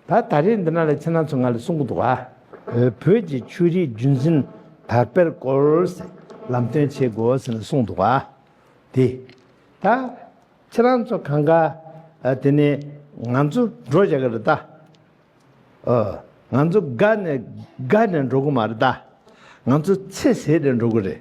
ད་ད་རེས་འདི་ན་ལས་ཚེ་ན་ཚོ་ང་ལས་གསུང་གི་འདུག་ཨ། བོད་ཀྱི་ཆོས་རིག་རྒྱུན་འཛིན་དར་སྤེལ་སྐོར། ལམ་སྟོན་བྱེད་དགོས་ཟེར་ནས་གསུང་འདུག་ཨ། དེ་ད་ཁྱེད་རང་ཚོ་གང་ག་དེ་ནས་ང་ཚོ་འགྲོ་བཞག་གི་རེད་ད། ཨོ། ང་ཚོ་དགའ་ནས་དགའ་ནས་འགྲོ་གི་མ་རེད་ད། ང་ཚོ་ཚེ་ཟད་དེ་འགྲོ་གི་རེད།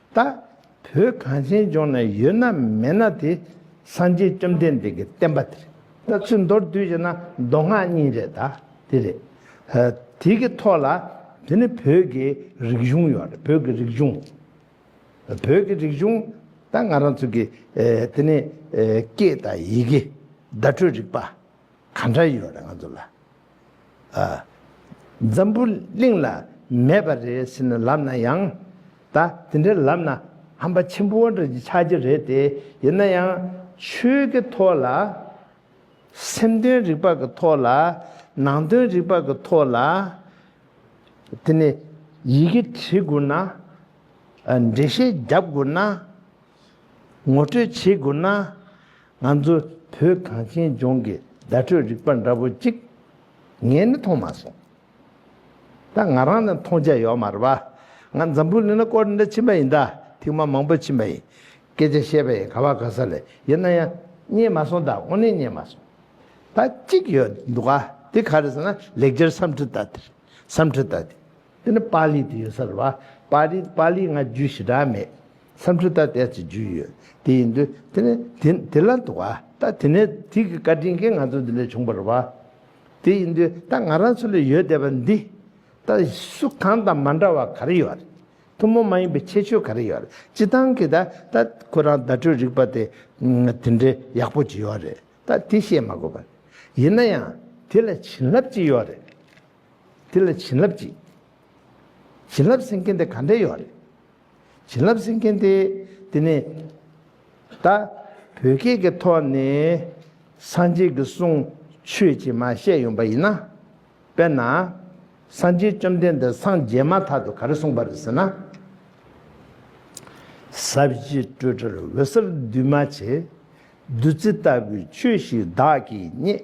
ད་བོད་གངས་ཅན་ལྗོངས་ན་ཡོད་ན་མེད་ན་དེ་སངས་རྒྱས་བཅོམ་ལྡན་འདས་ཀྱི་བསྟན་པ་དེ་རེད་ད་ཚོས་མདོར་བསྡུས་བྱས་ན་མདོ་སྔགས་གཉིས་རེད་ད་དེ་རེད། དེ་གི་ཐོག་ལ་དེ་ནི་བོད་ཀྱི་རིག་གཞུང་ཡོད་རེད་བོད་ཀྱི་རིག་གཞུང། བོད་ཀྱི་རིག་གཞུང་ད་ང་རང་ཚོ་གི་དེ་ནི་སྐད་དང་ཡི་གེ་བརྡ་སྤྲོད་རིག་པ། ག་འདྲ་ཡོད་རེད་ང་ཚོ་ལ། འཛམ་བུ་གླིང་ལ་མེད་པ་རེད་ཟེར་ནས་ལབ་ན་ཡང། ད་དེ་འདྲ་ལབ་ན་ཧམ་པ་ཆེན་པོ་འདྲ་ཆགས་ཀྱི་རེད་དེ། ཡིན་ན་ཡང་ཆོས་ཀྱི་ཐོག་ལ། སེམས་དོན་རིག་པ་གི་ཐོག་ལ། ནང་དོན་རིག་པ་གི་ཐོག་ལ། དེ་ནས་ཡི་གེ་བྲིས་དགོས་ན། འགྲེལ་བཤད་རྒྱབ་དགོས་ན། ངོ་སྤྲོད་བྱེད་དགོས་ན། ང་ཚོ་བོད་གངས་ཅན་ལྗོངས་ཀྱི་བརྡ་སྤྲོད་རིག་པ་འདྲ་པོ་ཅིག་ངས་ནི་མཐོང་མ་སོང། ད་ང་རང་ནི་མཐོང་ཆ་ཡོད་མ་རེད་པ། ང་འཛམ་བུ་གླིང་ན་སྐོར་འདྲ་ཕྱིན་པ་ཡིན་ད་ཐེངས་མ་མང་པོ་ཕྱིན་པ་ཡིན། སྐད་ཆ་བཤད་པ་ཡིན་ག་བ་ག་ས་ལས་ཡིན་ན་ཡང་རྙེད་མ་སོང་ད་དངོས་གནས་རྙེད་མ་སོང། ད་གཅིག་ཡོད་འདུག་ག་དེ་ག་རེད་ཟེར་ན་ལེགས་སྦྱར་སམ་ཁྲི་ད་དེ་རེད་སམ་ཁྲི་ད་དེ། འདི་ནི་པཱ་ལིའི་དུས་ཡིན་ས་རུ་བ་པཱ་རི་པཱ་ལིའི་སྔ་རྒྱུད་ཞི་དྲག་མེད་སམ་ཁྲི་ཐ་དད་ཅེས་རྒྱུད་ཡོད་དེ་ཡིན་དུས་དེ་ནི་དེ་དེ་ལ་འདུག་ཨ་ད་དེ་ནས་དུས་ཀྱི་བཀའ་དྲིན་གྱིས་ང་ཚོ་འདི་ལས་བྱུང་བ་རུ་བ་དེ་ཡིན་དུས་ད་ང་རང་ཚོ་ལས་ཡོད་བསྡད་པ་འདི་ད་སུ་གང་དང་མ་འདྲ་བ་ག་རེ་ཡོད་ཐུན་མོང་མ་ཡིན་པའི་ཁྱད་ཆོས་ག་རེ་ཡོད་སྤྱི་བཏང་གི་ད་ད་ཁོ་རང་བརྡ་སྤྲོད་རིག་པ་དེ་དེ་འདྲའི་ཡག་པོ་ཅི་ཡོད་རེད་ད་དེ་བཤད་མ་དགོས་པ་ཡིན་ན་ཡང་དེ་ལ་བྱིན་རླབས་ཅི་ཡོད་རེད། དེ་ལ་བྱིན་རླབས་ཀྱིས། བྱིན་རླབས་སེང་གེ་འདི་ག་འདྲས་ཡོད་རེད། བྱིན་རླབས་སེང་གེ་འདི་དེ་ནི། ད་བོད་སྐད་ཀྱི་ཐོག་ནས་སངས་རྒྱས་ཀྱི་གསུང་ཆོས་ཀྱི་མ་བཤད་ཡོང་པ་ཡིན་ན། དཔེར་ན། སངས་རྒྱས་བཅོམ་ལྡན་འདས་སངས་རྒྱས་མ་ཐག་ཏུ་ག་རེ་གསུངས་པ་རེད་ཟེར་ན། ས་གཞི་སྤྲོས་བྲལ་འོད་གསལ་འདུས་མ་བྱས། བདུད་རྩི་ལྟ་བུའི་ཆོས་ཤིག་བདག་གིས་རྙེད།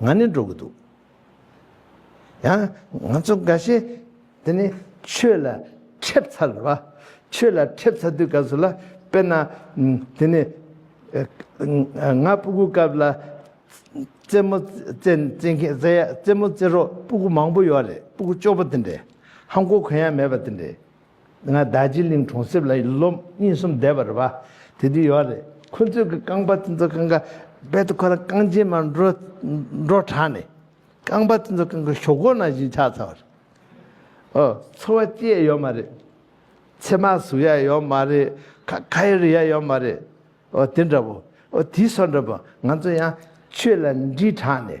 ང་ནི་འགྲོ་གི་འདུག། ཡང་ང་ཚོ་འགའ་ཤས་དེ་ནི་ཆོས་ལ་ཁྲེབ་ཚར་བ། ཆོས་ལ་ཁྲེབ་ཚར་དུས་སྐབས་སུ་ལ་དཔེར་ན་དེ་ནི། ང་སྤུ་གུ་སྐབས་ལ་རྩེད་མོ་རྩེ་རོགས་སྤུ་གུ་མང་པོ་ཡོད་རེད་སྤུ་གུ་ལྕོགས་པོ་དེ་འདྲས་ཧམ་གོ་གོན་ཡ་མེད་པ་དེ་འདྲས། ང་ཟླ་སྤྱི་གླིང་གྲོང་གསེབ་ལ་ལོ་གཉིས་གསུམ་བསྡད་པར་བ་དེ་དུས་ཡོད་རེད་ཁོ་ཚོས་གི་རྐང་པ་དེ་ཚོ་གང་ག་རྦད་དུ་ཁོ་རང་རྐང་རྗེས་མར་འགྲོ་འགྲོ་དྲགས་ནས་རྐང་པ་དེ་ཚོ་གང་ག་ཞོག་གོ་ན་བཞིན་ཆགས་ཚར་བ་རེད། ཨོ་ཚོ་བ་སྐྱེས་ཡ་ཡོད་མ་རེད། ཚེ་མ་ཟུག་ཡ་ཡོད་མ་རེད་ཁ་ཁ་ཡ་རི་ཡ་ཡོད་མ་རེད། ཨོ་དེ་འདྲ་བོ། ཨོ་དེ་སོ་འདྲ་བོ་ང་ཚོ་ཡང་ཆོས་ལ་འདྲིས་དྲགས་ནས་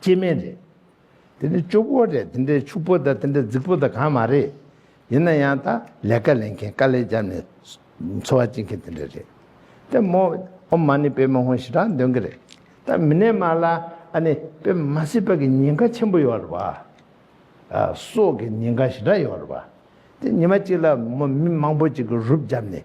སྐྱེ་དམན་རེད། དེ་འདྲའི་སྐྱོ་པོ་རེད་དེ་འདྲའི་ཕྱུག་པོ་དང་དེ་འདྲའི་རྫིག་པོ་དང་གང་མ་རེད། ཡིན་ན་ཡང་དང་ལས་ཀ་ལེན་མཁན་དཀའ་ལས་བརྒྱབ་ནས་འཚོ་བ་སྐྱེལ་མཁན་དེ་འདྲ་རེད། དེ་མོ་ཨོ་མ་ནི་པད་མ་ཧོན་ཞི་དྲག་འདོན་གི་རེད། ད་མི་ནས་མ་ལ་ཨ་ནི་པད་མ་མ་སྲིད་པ་གི་ཉེན་ཁ་ཆེན་པོ་ཡོད་རེད་བ། ཨ་སོག་གི་ཉེན་ཁ་ཞི་དྲག་ཡོད་རེད་བ། དེ་ཉི་མ་གཅིག་ལ་མོ་མི་མང་པོ་གཅིག་གི་རུབ་བརྒྱབ་ནས་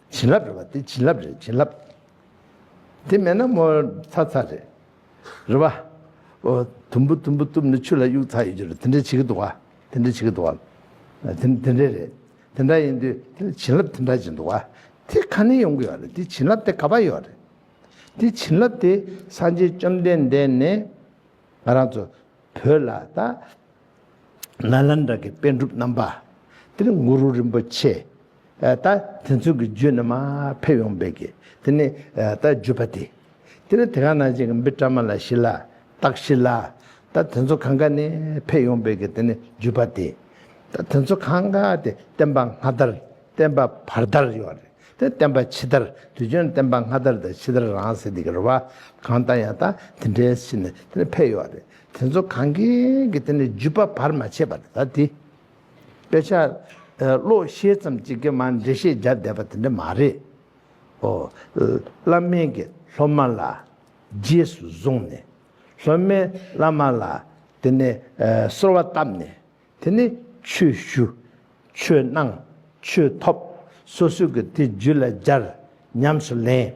བྱིན་རླབས་རེད་བ་དེ་བྱིན་རླབས་རེད་བྱིན་རླབས། དེ་མེད་ན་མོ་ཚ་ཚ་རེད། རེད་བ། ཨོ། དུམ་བུ་དུམ་བུ་གཏུབ་ནས་ཆུ་ལ་གཡུག་ཚ་ཡོད་རྒྱུ་རེད་དེ་འདྲ་བྱེད་ཀྱི་འདུག་བ། དེ་འདྲ་བྱེད་ཀྱི་འདུག་བ། དེ་འདྲ་རེད། དེ་འདྲ་ཡིན་དུས་བྱིན་རླབས་དེ་འདྲ་བྱེད་འདུག་བ། དེ་ག་ནས་ཡོང་གི་ཡོད་རེད་དེ་བྱིན་རླབས་དེ་ག་པ་ཡོད་རེད། དེ་བྱིན་རླབས་དེ་སངས་རྒྱས་བཅོམ་ལྡན་འདས་ནས་ང་རང་ཚོ་བོད་ལ་ད། ནཱ་ལནྡྲ་གི་དཔེ་སྒྲུབ་རྣམ་པ། དེར་གུ་རུ་རིན་པོ་ཆེ། ད་དེ་ཚོས་ཀྱི་རྒྱུད་རྣམས་ཕེབས་ཡོང་བས་ཀྱི་དེ་ནས་ད་བརྒྱུད་པ་སྟེ། དེར་དེ་ག་ན་ཅིག་གི་འབི་ཏྲ་མ་ལ་ཤི་ལ་ཏག་ཤི་ལ། ད་དེ་ཚོ་གང་ག་ནས་ཕེབས་ཡོང་བས་ཀྱི་དེ་ནས་བརྒྱུད་པ་སྟེ། ད་དེ་ཚོ་གང་ག་དེ་བསྟན་པ་སྔ་དར་བསྟན་པ་བར་དར་ཡོད་རེད་དེ་བསྟན་པ་ཕྱི་དར་དུས་ཆོན་བསྟན་པ་སྔ་དར་དང་ཕྱི་དར་རང་ཟེར་དེ་གི་རུ་བ་གང་ལྟ་ཡང་ད་དེ་འདྲའི་ཕྱི་ནས་དེ་ནས་ཕེབས་ཡོད་རེད་དེ་ཚོ་གང་གི་གི་དེ་ནས་བརྒྱུད་པ་བར་མ་ཆད་པ་དེ་དག་དེ། དཔེ་ཆ། བློ་ཤེས་ཙམ་གཅིག་གིས་མ་འདྲེ་ཤེས་བརྒྱབ་བསྡད་པ་དེ་འདྲ་མ་རེད། ཨོ། བླ་སྨན་གྱིས་སློབ་མ་ལ་རྗེས་སུ་བཟུང་ནས། སློབ་མས་བླ་མ་ལ་དེ་ནས་གསོལ་བ་བཏབ་ནས། དེ་ནས་ཆོས་ཞུ། ཆོས་གནང། ཆོས་ཐོབ། སོ་སོས་གི་དེ་རྒྱུད་ལ་སྦྱར། ཉམས་སུ་ལེན།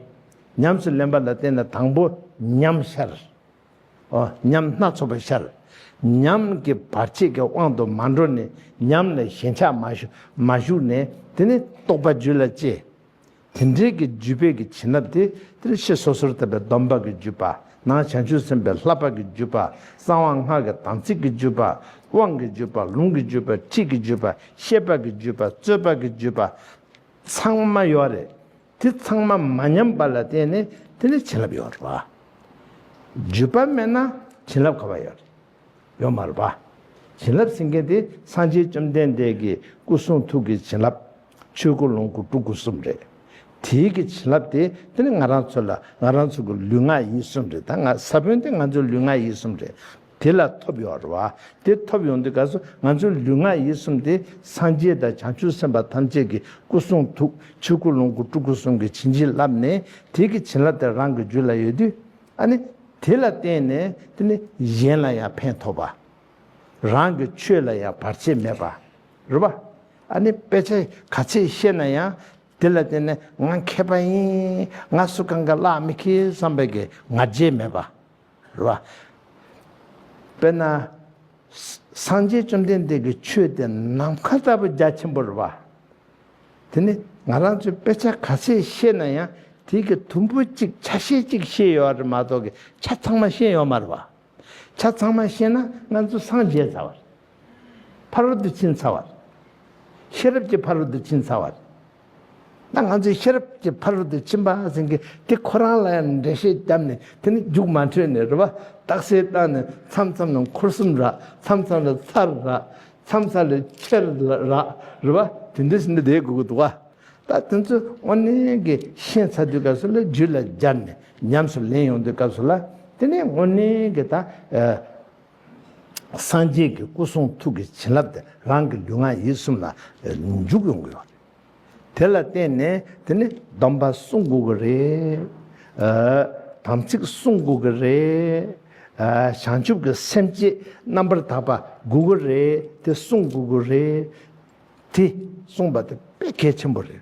ཉམས་སུ་ལེན་པ་ལ་བརྟེན་ནས་དང་པོ་ཉམས་ཤར། ཉམས་སྣ་ཚོགས་པར་ཤར། ཉམས་ཀྱི་བར་ཆད་ཀྱི་དབང་དུ་མ་འགྲོ་ནས་ཉམས་ལ་ཞེན་ཆགས་མ་ཞུགས་ནས་དེ་ནི་རྟོག་པ་རྒྱུད་ལ་སྐྱེ། དེ་འབྲེལ་གྱི་རྒྱུད་དཔལ་གྱི་བྱིན་རླབས་དེ་དེར་ཤི་སོ་སོར་དབབ་པའི་སྡོམ་པ་གི་རྒྱུད་པདྨ་བྱང་ཆུབ་སེམས་དཔའི་ལྷ་འབར་གྱི་རྒྱུད་པགསང་བ་སྔགས་ཀྱི་དམ་ཚིག་གི་རྒྱུད་པདབང་གི་རྒྱུད་པ་ལུང་གི་རྒྱུད་པ་ཁྲིད་ཀྱི་རྒྱུད་པཤེས་པ་གི་རྒྱུད་པ་རྩོད་པ་གི་རྒྱུད་པཚང་མ་ཡོད་རེད། དེ་ཚང་མ་མ་ཉམས་པ་ལ་བརྟེན་ནས་དེ་ལས་བྱིན་རླབས་ཡོང་རོགས། བརྒྱུད་པ་མེད་ན་བྱིན་རླབས་ག་བ་ཡོད་ཡོད་མ་རེད་པ། བྱིན་རླབས་ཟིན་མཁན་དེ་སངས་རྒྱས་བཅོམ་ལྡན་འདས་ཀྱི་སྐུ་གསུང་ཐུགས་ཀྱི་བྱིན་རླབས་ཆོས་སྐུ་ལོངས་སྐུ་སྤྲུལ་སྐུ་གསུམ་རེད། དེའི་གི་བྱིན་རླབས་དེ་དེ་ནི་ང་རང་ཚོ་ལ་ང་རང་ཚོ་གི་ལུས་ངག་ཡིད་གསུམ་རེད་ད་ང་ས་བོན་དེ་ང་ཚོའི་ལུས་ངག་ཡིད་གསུམ་རེད། དེ་ལ་ཐོབ་ཡོང་བར་བ། དེ་ཐོབ་ཡོང་དུས་དགའ་བསུ་ང་ཚོའི་ལུས་ངག་ཡིད་གསུམ་སྟེ་སངས་རྒྱས་དང་བྱང་ཆུབ་སེམས་དཔའ་ཐམས་ཅད་ཀྱི་སྐུ་གསུང་ཐུགས་ཕྱི་སྐུ་ལོངས་སྐུ་སྤྲུལ་སྐུ་གསུམ་གྱི་བྱིན་གྱིས་བརླབས་ནས་དེ་ཀྱི་བྱིན་རླབས་དེ་རང་གི་རྒྱུད་ལ་ཡོད་དུས། ཨ་ནི། དེ་ལ་བརྟེན་ནས་དེ་ནི་གཞན་ལ་ཡང་ཕན་ཐོགས་པ། རང་གི་ཆོས་ལ་ཡང་བར་ཆད་མེད་པ། རེད་པ། ཨ་ནི་དཔེ་ཆ་ག་ཚད་ཤེས་ན་ཡང་དེ་ལ་བརྟེན་ནས་ང་མཁས་པ་ཡིན། ང་སུ་གང་གི་བླ་མི་ཁེལ་བསམ་པའི་ང་རྒྱལ་མེད་པ། ལ། དཔེར་ན། སངས་རྒྱས་བཅོམ་ལྡན་འདས་ཀྱི་ཆོས་དེ་ནམ་མཁའ་ལྟ་བུ་རྒྱ་ཆེན་པོར་བ། དེ་ནི་ང་རང་ཚོས་དཔེ་ཆ་ག་ཚད་ཤེས་ན་ཡང་དེའི་གི་དུམ་བུ་གཅིག་ཆ་ཤས་གཅིག་ཤེས་ཡོད་བ་རེད་མ་གཏོགས་གི་ཆ་ཚང་མ་ཤེས་ཡོད་མ་རེད་བ། ཆ་ཚང་མ་ཤེས་ན་ང་ཚོ་སངས་རྒྱས་ཚར་བ་རེད། ཕ་རོལ་ཏུ་ཕྱིན་ཚར་བ་རེད། ཤེས་རབ་ཀྱི་ཕ་རོལ་ཏུ་ཕྱིན་ཚར་བ་རེད། ད་ང་ཚོས་ཤེས་རབ་ཀྱི་ཕ་རོལ་ཏུ་ཕྱིན་པ་ཟིན་གི་དེ་ཁོ་རང་ལ་ཡང་འགྲེལ་བཤད་བརྒྱབ་ནས་དེ་ནི་རྒྱུགས་མ་འཕྲོད་ནས་རེ་བ་རྟགས་གསལ་བཏང་ནས་མཚམས་མཚམས་ལ་འཁོར་གསུམ་རག་མཚམས་མཚམས་ལ་ཚར་རག་མཚམས་མཚམས་ལ་ཕྱེར་རག་རེ་བ་དེ་འདྲའི་ཟིན་གྱི་བསྡད་དགོས་ཀྱི་འདུག་ད་དེ་ཚོ་དབོན་ནན་གྱི་ཤན་ཚ་དུས་སྐབས་སུ་ལ་རྒྱུད་ལ་སྦྱར་ནས་ཉམས་སུ་ལེན་ཡོང་དུས་སྐབས་སུ་ལ་དེ་ནི་དབོན་ནན་གྱི་ད་སངས་རྒྱས་ཀྱི་སྐུ་གསུང་ཐུགས་ཀྱི་བྱིན་རླབས་དེ་རང་གི་ལུས་ངག་ཡིད་གསུམ་ལ་འཇུག་ཡོང་གི་ཡོད། དེ་ལ་བརྟེན་ནས་དེ་ནི་སྡོམ་པ་བསྲུང་དགོས་ཀྱི་རེད། དམ་ཚིག་བསྲུང་དགོས་ཀྱི་རེད། བྱང་ཆུབ་ཀྱི་སེམས་བསྐྱེད་རྣམ་པར་དག་པ་དགོས་ཀྱི་རེད་དེ་བསྲུང་དགོས་ཀྱི་རེད། དེ་བསྲུང་བ་དེ་དཔེ་གལ་ཆེན་པོ་རེད།